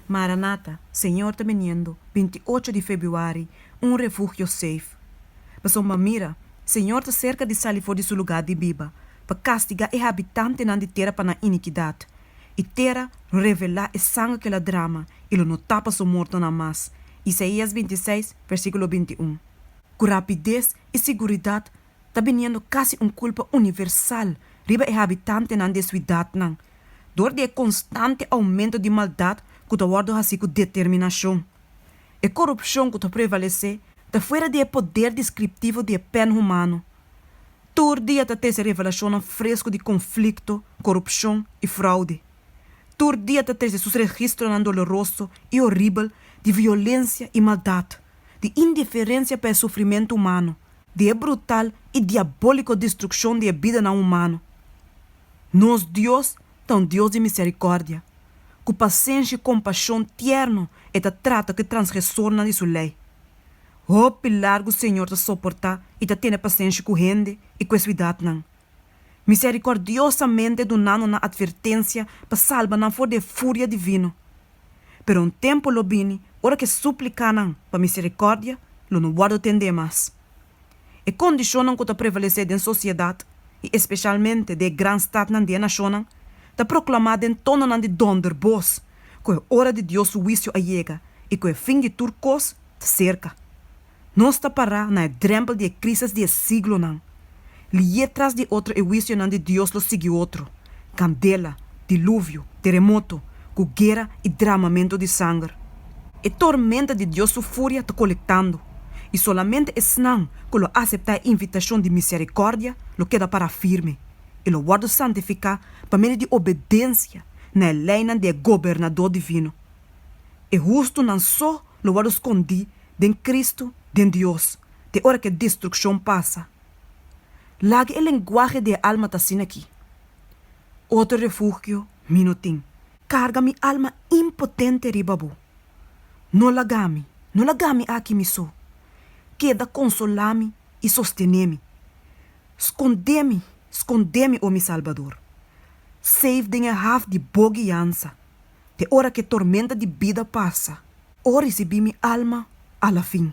Maranata, Señor ta biniendo, binti ocho di febuari, Un refugio safe. Pasobra mira, Señor ta serka di sali for di su lugá di biba, pa kastigá e habitantenan di tera pa nan inikidat. E tera lo revelá e sangre ku el a drama, i lo no tapa su mortonan mas. Isaías binti seis, versíkulo binti un. Ku rapides i siguridat ta biniendo kasi un kulpa universal riba e habitantenan di e suidatnan, dor di e konstante oumento di maldat ku ta wòrdu hasi ku determinashon. E korupshon ku ta prevalesé ta fuera di e poder deskriptivo di e pèn humano. Tur dia ta trese revelashonnan fresku di konflikto, korupshon i fraude. Tur dia ta trese sus registronan doloroso i oribel di violensia i maldat, di indiferensia pa e sufrimentu humano, di e brutal i diabóliko destrukshon di e bidanan humano. Nos Dios ta un Dios di miserikòrdia. Ku pasenshi i kompashon tierno e ta trata ku e transgresornan di su lei. Hopi largu Señor ta soportá i ta tene pasenshi ku hende i ku e suidatnan. misericordiosamente dunando nan advertencia pa salba nan for di e furia divino. Pero un tempo lo bini ora cu e suplicanan pa misericordia lo no wordo tende mas. E condicionnan cu ta prevalece den sociedad, y especialmente den e gran stadnan di e nacionnan, ta proclama den tononan di donder boz cu e ora di Dios su huicio a yega y cu e fin di tur cos ta cerca. Nos ta pará na e drèmpel di e krísis di e siglonan. Lié tras di otro e huisionan di Dios lo sigui otro, kandela, diluvio, teremoto, ku guera i dramamentu di sanger. E tormenta di Dios su furia ta kolektando, i solamente esnan ku lo aseptá e invitashon di miserikòrdia lo keda pará firme i lo wòrdu santifiká pa medio di obedensia na e leinan di e Gobernadó divino. E hustunan so lo wòrdu skondí den Cristo, den Dios, te ora cu e destruccion pasa. Laga e lenguahe di e alma ta asin'aki, Otro refugio mi no tin. Carga mi alma impotente riba bo. No lagami, no lagami aki mi so. Keda consolami y sostenemi. Scondemi, scondemi, o mi Salbador. Safe den e haf di bo guiansa. te ora k'e tormenta di bida pasa, o risibí mi alma alafin.